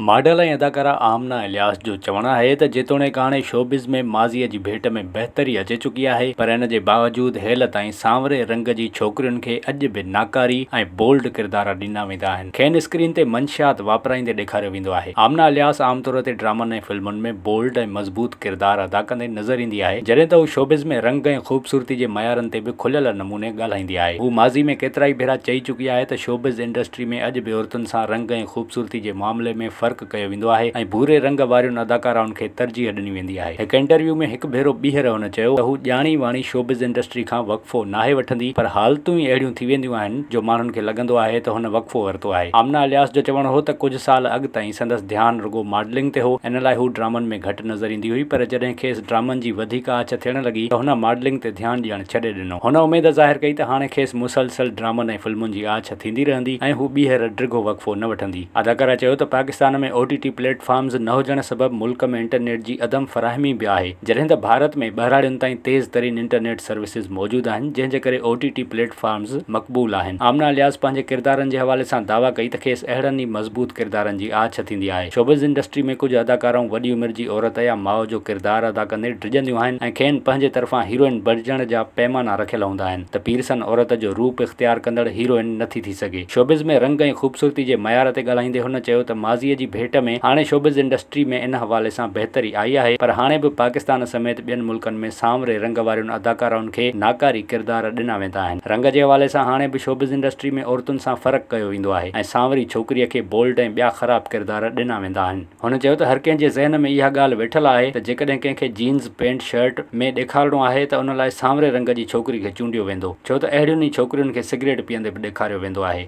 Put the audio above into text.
Model ۽ اداڪاره آمنه الياس جو چوڻ آهي ته جيتوڻيڪ هاڻي شوبز ۾ ماضيء جي ڀيٽ ۾ بهتري اچي چڪي آهي پر ان جي باوجود هيل تائين سانوري رنگ جي ڇوڪرين کي اڄ به ناڪاري ۽ بولڊ ڪردار ڏنا ويندا آهن کين اسڪرين تي منشيات واپرائيندي ڏيکاريو ويندو آهي آمنه الياس عام طور تي ڊرامن ۽ فلمن ۾ بولڊ ۽ مضبوط ڪردار ادا ڪندي نظر ايندي آهي جڏهن ته هو شوبز ۾ رنگ ۽ خوبصورتي جي معيارن تي به کليل نموني ڳالهائيندي آهي. هوء ماضي ۾ ڪيترائي ڀيرا چئي چڪي آهي ته شوبز انڊسٽري ۾ اڄ به عورتن سان رنگ ۽ خوبصورتي جي معاملي ۾ فرق ڪيو ويندو آهي ۽ ڀوري رنگ وارين اداڪارائن کي ترجيح ڏني ويندي آهي. هڪ انٽرويو ۾ هڪ ڀيرو ٻيهر هن چيو ته هو ڄاڻي واڻي شوبز انڊسٽري کان وقفو ناهي وٺندي پر حالتون ئي اهڙيون ٿي وينديون آهن جو ماڻهن کي لڳندو آهي ته هن وقفو ورتو آهي. آمنه الياس جو چوڻ هو ته ڪجهه سال اڳ تائين سندس ڌيان رڳو ماڊلنگ تي هو ان لاء هو ڊرامن ۾ گهٽ نظر ايندي هئي پر جڏهن کيس ڊرامن جي وڌيڪ آڇ ٿيڻ لڳي ته هن ماڊلنگ تي ڌيان ڏيڻ ڇڏي ڏنو. ڏنو. هن اميد ظاهر ڪئي ته هاڻي کيس مسلسل ڊرامن ۽ فلمن جي آڇ ٿيندي رهندي ۽ هو ٻيهر ڊگهو وقفو نه وٺندي. اداڪارا چيو ته Pakistan ۾ O T T platforms نه هجڻ سبب ملڪ ۾ انٽرنيٽ جي عدم فراهمي به آهي، جڏهن ته ڀارت ۾ ٻهراڙين تائين تيز ترين انٽرنيٽ سروسز موجود آهن، جنهن جي ڪري او ٽي ٽي پليٽ فارمز مقبول آهن. آمنه الياس پنهنجي ڪردارن جي حوالي سان دعويٰ ڪئي ته کيس اهڙن ئي مضبوط ڪردارن جي آڇ ٿيندي آهي. شوبز انڊسٽري ۾ ڪجهه اداڪارائون وڏي عمر جي عورت يا ماء جو ڪردار ادا ڪندي ڊڄنديون آهن ۽ کين پنهنجي طرفان هيروئن بڻجڻ جا پيمانا رکيل هوندا آهن ته پيرسن عورت جو روپ اختيار ڪندڙ هيروئن نٿي ٿي سگهي. شوبز ۾ رنگ ۽ خوبصورتي جي معيار تي ڳالهائيندي هن چيو ته ماضي جي ڀيٽ ۾ هاڻي شوبز انڊسٽري ۾ ان حوالي سان بهتري آئي آهي پر هاڻي به پاڪستان سميت ٻين ملڪن ۾ سانوري رنگ وارين اداڪارائن کي ناڪاري ڪردار ڏنا ويندا آهن. رنگ جي حوالي سان هاڻي به شوبز انڊسٽري ۾ عورتن سان فرق ڪيو ويندو آهي ۽ سانوري ڇوڪريء کي بولڊ ۽ ٻيا خراب ڪردار ڏنا ويندا آهن. هن چيو ته هر ڪنهن جي ذهن ۾ اها ڳالهه ويٺل آهي ته جيڪڏهن ڪنهن کي جينز پينٽ شرٽ ۾ ڏيکارڻو آهي ته ان لاء سانوري رنگ جي ڇوڪري کي چونڊيو ويندو ڇو ته اهڙين ئي ڇوڪرين کي سگريٽ پيئندي به ڏيکاريو ويندو آهي.